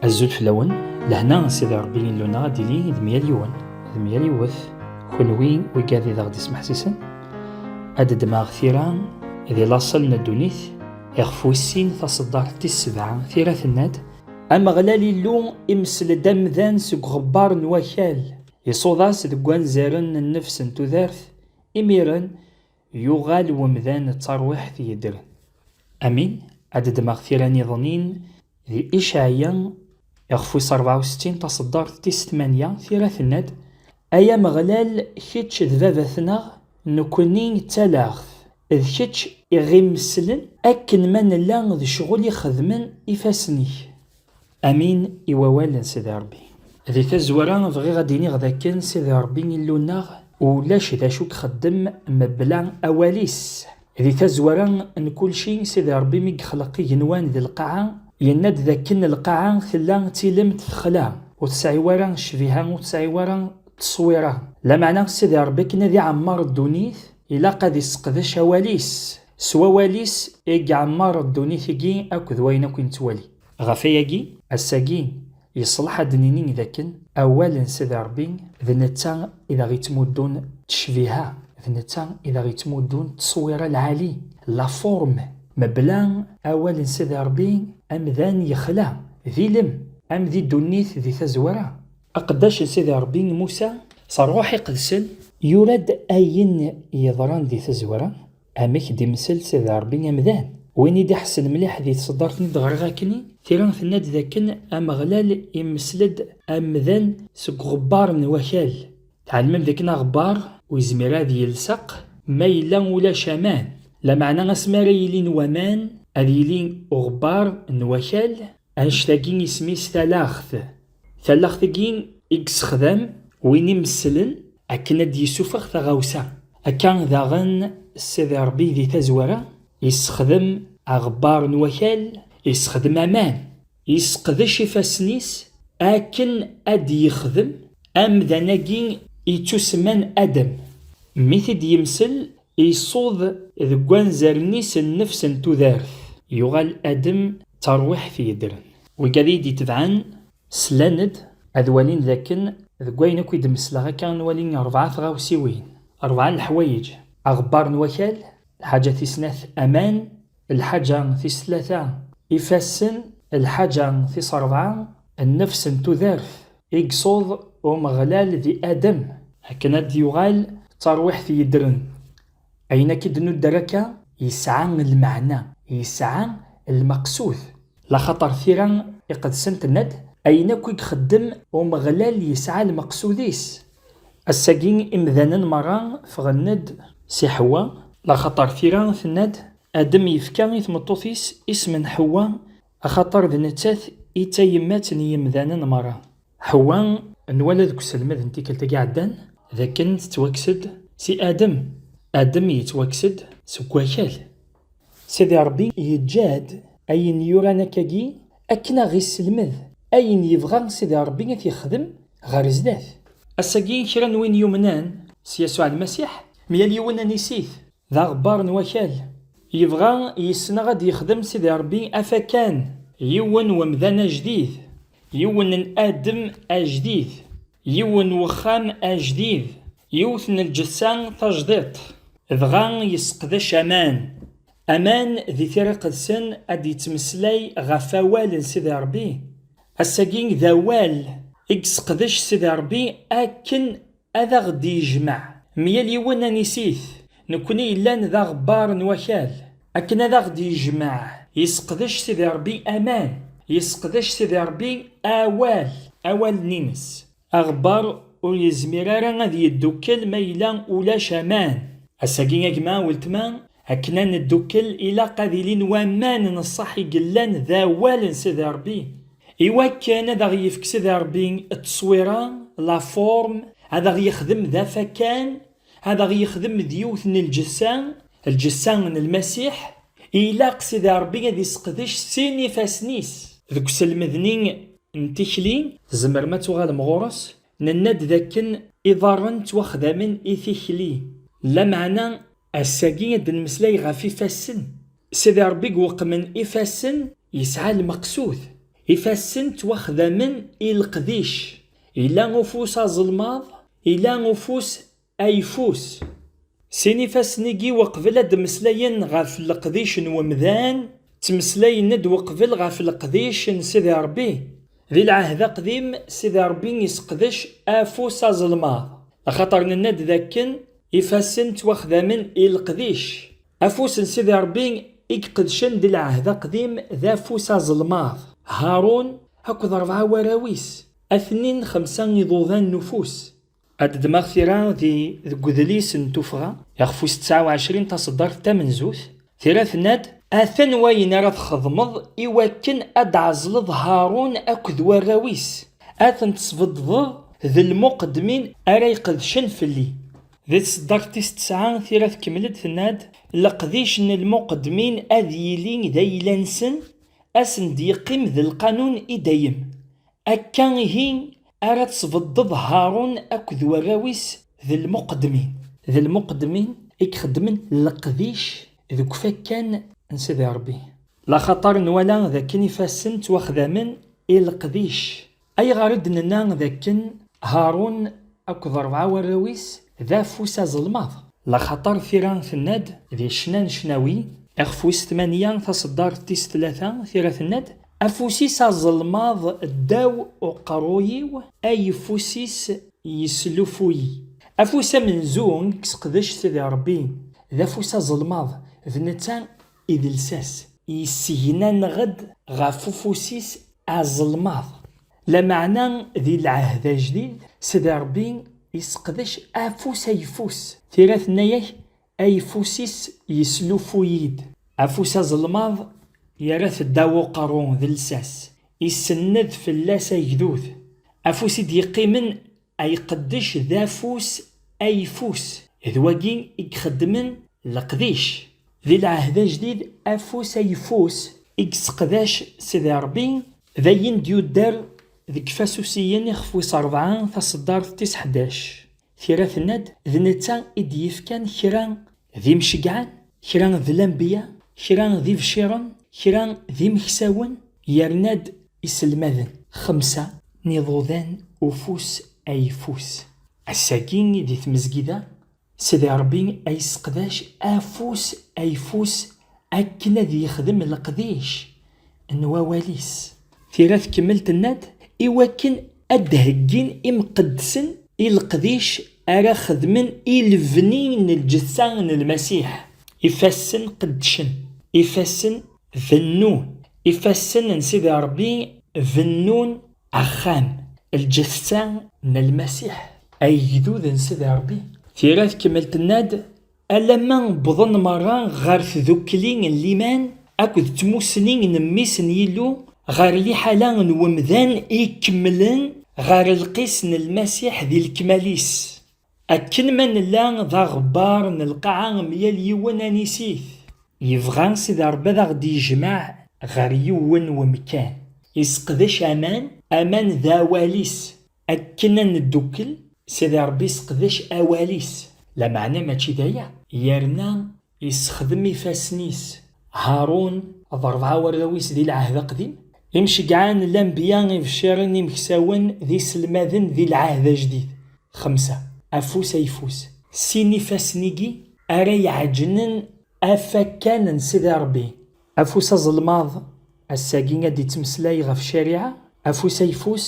Azul fell-awen, lehna n Sidi Ṛebbi Illu-nneɣ ad d-ili d myal yiwen, d myal yiwet, kenwi wigad i d aɣ-d-ismeḥsisen, ad d-ddmeɣ tira di laṣel n ddunit, iɣef wis-sin taṣeddart tis sebɛa, tira tenna-d, Ameɣlal Illu imessel-d amdan seg uɣebbar n wakal, iṣuḍ-as deg wanzaren n nnefs n tudert, imiren, Yuɣal wemdan d tarwiḥt yeddren. Amin, ad ddmeɣ tira niḍenin di Icaɛiya iɣef wis rebɛa u settin, taṣeddart tis tmanya, tira tenna-d, Ay Ameɣlal, kečč d Babat-nneɣ, nekkni d talaɣt, d kečč i ɣ-imesslen, akken ma nella d ccɣel i xedmen ifassen-ik. Amin i wawal n Sidi Rebbi. Di tazwara bɣiɣ ad d-iniɣ d akken Sidi Rebbi Illu-nneɣ ulac d acu ixeddem mebla awal-is. Di tazwara n kulci, Sidi Rebbi mi yexleq igenwan d lqaɛa, yenna-d d akken lqaɛa tella d tilemt texla, ur tesɛi wara ccbiha, ur tesɛi wara tteswiṛa. Lameɛna Sidi Rebbi akken ad iɛemmeṛ ddunit, Ilaq ad isseqdec awal-is, s wawal-is i iɛemmer ddunit-agi akk d wayen akk i nettwali. Ɣef ayagi, ass-agi, yeṣleḥ ad d-nini d akken awal n Sidi Rebbi d netta i d aɣ-ittmuddun ttecbiha, d netta i d aɣ-ittmuddun ttṣewwira lɛali, la forme. Mebla awal n Sidi Rebbi, amdan yexla, d ilem, am di ddunit di tazwara, Aqeddac n Sidi Ṛebbi Musa, s Ṛṛuḥ Iqedsen, yura-d ayen yeḍran di tazwara, amek i d-imessel Sidi Ṛebbi amdan. Win i d-iḥessen mliḥ di tṣeddart n id-ɣriɣ akkenni, tira tenna-d d akken Ameɣlal imessel-d amdan seg uɣebbar n wakal. Tɛelmem d akken aɣebbar ur yezmir ad yelseq ma yella ulac aman. Lameɛna asmi ara yilin waman, ad yili uɣebbar n wakal Annect-agi isem-is talaɣt. Talaɣt-agi i yessexdam win imesslen akken ad d-yessufeɣ taɣawsa. Akka daɣen Sidi Ṛebbi di tazwara yessexdem aɣebbar n wakal, yessexdem aman, yesseqdec ifassen-is akken ad d-yexdem amdan-agi yettusemman Adem. Mi t-id-yemsel Iṣuḍ deg wanzaren-is nnefs n tudert. Yuɣal Adem d tarwiḥt yeddren. Wigad iyi-d itebɛen slan-d ad walin d akken deg wayen akk i d-mesleɣ akka nwali rebɛa tɣawsiwin, rebɛa n leḥwayeǧ, aɣebbar n wakal, lḥaǧa tis snat, aman, Lḥaǧa tis tlata. Ifassen Lḥaǧa tis ṛebɛa. Nnefs n tudert i yṣuḍ Umeɣlal di Adem. Akken ad d-yuɣal d tarwiḥt yeddren. Ayen akk i d-nudder akka yesɛa lmeɛna, yesɛa lmeqsud. Laxaṭer tira iqedsen tenna-d, Ayen akk i ixeddem Umeɣlal yesɛa lmeqsud-is, Ass-agi imdanen merra ffɣen-d si Ḥewwa. Laxaṭer tira tenna-d, Adem yefka i tmeṭṭut-is isem n Ḥewwa, axaṭer d nettat i d tayemmat n yimdanen merra. Ḥewwa, nwala deg uselmed n tikkelt-agi iɛeddan d akken tettwakkes-d si Adem, Adem yettwakkes-d seg wakal. Sidi Ṛebbi yeǧǧa-d ayen yuran akka-agi Akken a ɣ-isselmed ayen yebɣa Sidi Ṛebbi a t-yexdem ɣer zdat. Ass-agi kra n win yumnen s Yasuɛ Lmasiḥ, myal yiwen anis-it, d aɣebbar n wakal, yebɣa yis-neɣ ad d-yexdem Sidi Ṛebbi afakan, yiwen n umdan ajdid, yiwen n adem ajdid, yiwen n wexxam ajdid, yiwet n lǧetta tajdiṭ, dɣa yesseqdac aman, Aman di tira iqedsen ad d-yettmeslay ɣef awal n Sidi Ṛebbi. Ass-agi d awal i yesseqdec Sidi Ṛebbi akken ad aɣ-d-yejmeɛ myal yiwen anis-it, nekkni yellan d aɣebbar n wakal. Akken ad aɣ-d-yejmeɛ, yesseqdec Sidi Ṛebbi aman, yesseqdec Sidi Ṛebbi awal, awalen-ines. Aɣebbar ur yezmir ara ad yeddukkel ma yella ulac aman. Ass-agi a gma, weltma, akken ad neddukkel ilaq ad ilin waman n ṣṣeḥ i yellan d awal n Sidi Rebbi. I wakken ad aɣ-yefk Sidi Rebbi tteswira, la forme, ad aɣ-yexdem d afakan Ad aɣ-yexdem d yiwet n lǧessa, lǧessa n Lmasiḥ, ilaq Sidi Ṛebbi ad isseqdec sin ifassen-is. Deg uselmed-nni n tikli, tzemrem ad tuɣalem ɣur-s, nenna-d d akken iḍarren ttwaxdamen i tikli, lameɛna ass-agi ad d-nemmeslay ɣef ifassen. Sidi Ṛebbi gweqmen ifassen yesɛa lmeqsud. Ifassen ttwaxdamen i leqdic. Yella ufus aẓelmaḍ, Ila ufus ayeffus. Sin ifassen-igi weqbel ad d-mmeslayen ɣef leqdic n wemdan, ttmeslayen-d weqbel ɣef leqdic n Sidi Ṛebbi. Di Lɛehd Aqdim, Sidi Ṛebbi iseqdec afus azelmaḍ, axaṭer nenna-d dakken ifassen ttwaxdamen i leqdic. Afus n Sidi Ṛebbi i iqedcen di Lɛehd Aqdim d afus azelmaḍ. Haṛun akked ṛebɛa warraw-is Atnin xemsa iḍudan n ufus. Ad ddmeɣ tira di deg udlis n tuffɣa iɣef wis tesɛa u ɛecrin taṣeddart tamenzut, tira tenna-d, Atan wayen ara txedmeḍ i wakken ad d-tɛezleḍ Haṛun akked warraw-is, ad ten-tesbedddeḍ d lmuqeddmin ara iqedcen fell-i. Di tṣeddart tis tesɛa, tira tkemmel-d tenna-d, Leqdic n lmuqeddmin ad yili d ayla-nsen, ad sen-d-yeqqim d lqanun i dayem. Akka ihi ara tesbeddeḍ Haṛun akked warraw-is d lmuqeddmin. D lmuqeddmin i ixeddmen leqdic deg ufakkan n Sidi Ṛebbi. Laxaṭer nwala d akken ifassen ttwaxdamen i leqdic, ayɣer i d-nenna d akken Haṛun akked ṛebɛa n warraw-is d afus azelmaḍ? Laxaṭer tira tenna-d di ccna n ccnawi, ixef wis tmanya taṣeddart tis tlata, tira tenna-d, Afus-is azelmaḍ ddaw uqerruy-iw, ayeffus-is yeslufuy. Afus amenzu i yesseqdec Sidi Rebbi, d afus azelmaḍ, d netta i d lsas. Yessegnaneɣ-d ɣef ufus-is azelmaḍ, lameɛna di Lɛehd Ajdid, Sidi Rebbi yesseqdec afus ayeffus. Tira tenna-ak Ayeffus-is yeslufuy-id. Afus azelmaḍ yerra-t ddaw uqerru d lsas, isenned fell-as agdud. Afus i d-yeqqimen a iqeddec d afus ayeffus, d wagi i ixeddmen leqdic. Di lɛehd ajdid afus ayeffus i yesseqdac Sidi Rebbi, d ayen d-yudder deg yifasusiyen ixef wis rebɛa taṣeddart tis ḥdac. Tira tenna-d, d netta i d-yefkan kra d imceggɛen, kra d lanbiya, kra d ibciren, kra d imeksawen, yerna-d iselmaden, xemsa, n iḍudan ufus ayeffus. Ass-agi di tmezgida, Sidi Rebbi a yesseqdac afus ayeffus Akken ad yexdem leqdic n wawal-is. Tira tkemmel tenna-d, Iwakken ad d-heggin imqeddsen i leqdic ara xedmen i lebni n lǧetta n Lmasiḥ, ifassen qeddcen, ifassen bennun, ifassen n Sidi Ṛebbi bennun axxam, lǧetta n Lmasiḥ, agdud n Sidi Ṛebbi. Tira tkemmel tenna-d, Alamma wwḍen merra ɣer tdukkli n liman akked tmussni n Mmi-s n Yillu, ɣer liḥala n wemdan i ikemmlen ɣer lqis n Lmasiḥ di lekmal-is. Akken ma nella d aɣebbar n lqaɛa myal yiwen anis-it, yebɣa Sidi Rebbi ad aɣ-d-yejmeɛ ɣer yiwen wemkan. Iseqdec aman, aman d awal-is, Akken ad neddukkel, Sidi Ṛebbi yesseqdec awal-is, lameɛna mačči d aya, yerna yessexdem ifassen-is, Haṛun d ṛebɛa warraw-is di Lɛehd Aqdim, imceggɛen, lanbiya, ibecciren, imeksawen, d iselmaden di Lɛehd Ajdid, xemsa, afus ayeffus. Sin ifassen-igi ara iɛeǧǧnen afakkan n Sidi Ṛebbi. Afus azelmaḍ, ass-agi ad d-ittmeslay ɣef ccariɛa, afus ayeffus,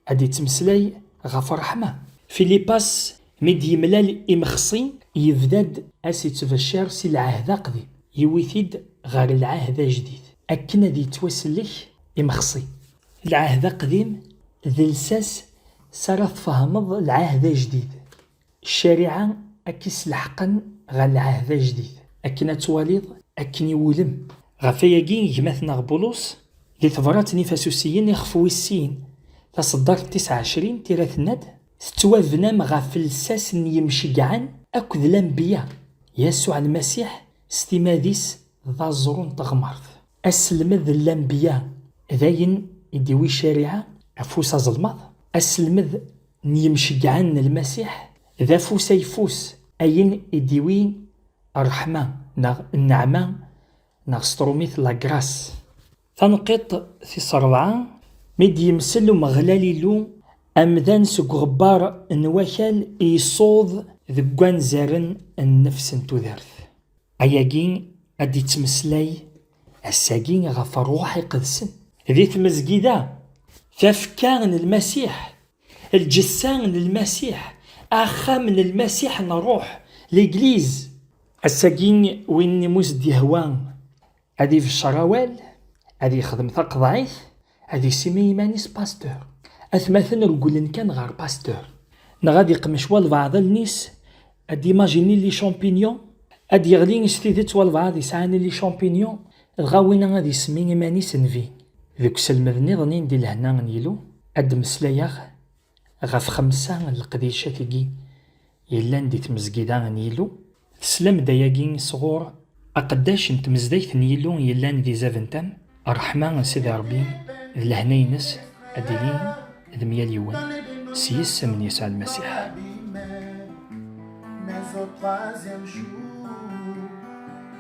Ad d-yettmeslay ɣef ṛṛeḥma. Filipas mi d-yemlal imexṣi, yebda-d a s-ittbecciṛ si lɛehd aqdim, yewwi-t-id ɣer lɛehd ajdid, akken ad yettwasellek imexṣi. Lɛehd aqdim d lsas s ara tfehmeḍ lɛehd ajdid. Ccariɛa ad k-isleḥqen ɣer lɛehd ajdid, akken ad twaliḍ akken iwulem. Ɣef wayagi, gma-tneɣ Bulus, di tebrat n Ifasusiyen ixef wis sin, taṣeddart tis ɛecrin tira tenna-d, Tettwabnam ɣef lsas n yimceggɛen akked lanbiya, Yasuɛ Lmasiḥ s timad-is d aẓru n teɣmert. Aselmed n lanbiya, d ayen i d-iwi ccariɛa afus azelmaḍ, aselmed n yimceggɛen n Lmasiḥ d afus ayeffus, ayen i d-iwin ṛṛeḥma neɣ nneɛma neɣ s tṛumit la grâce. Taneqqiṭ tis ṛebɛa, mi d-yemsel Umeɣlal Illu amdan seg uɣebbar n wakal i yessuḍ deg wanzaren n nnefs n tudert, ayagi a d-ittmeslay Ass-agi ɣef rruḥ iqedsen. Di tmezgida, tafekka n Lmasiḥ, lǧessa n Lmasiḥ, axxam n Lmasiḥ n rruḥ, Legliz. Ass-agi win i mu s-d-yehwa ad ibeccer awal, ad yexdem taqeḍɛit, Ad isimi iman-is Pasteur. Atmaten regglen kan ɣer Pasteur. Neɣ ad iqmec walbaɛḍ allen-is, ad d-imajini li champignon, ad d-yeɣli s tidet walbaɛḍ yesɛan li champignon, dɣa winna ad ismi iman-is Nvi. Deg uselmed niḍen i ndi lehna n Yillu, ad d-mmeslayeɣ, ɣef xemsa n leqdicat-agi yellan di tmezgida n Yillu. Teslam-d ayagi sɣur. Aqeddac n tmezdayt n Yillu yellan di Zaventem. Ṛṛeḥma n Sidi Ṛebbi d lehna-ines ad d-ilin d myal yiwen s yisem n Yasuɛ Lmasiḥ.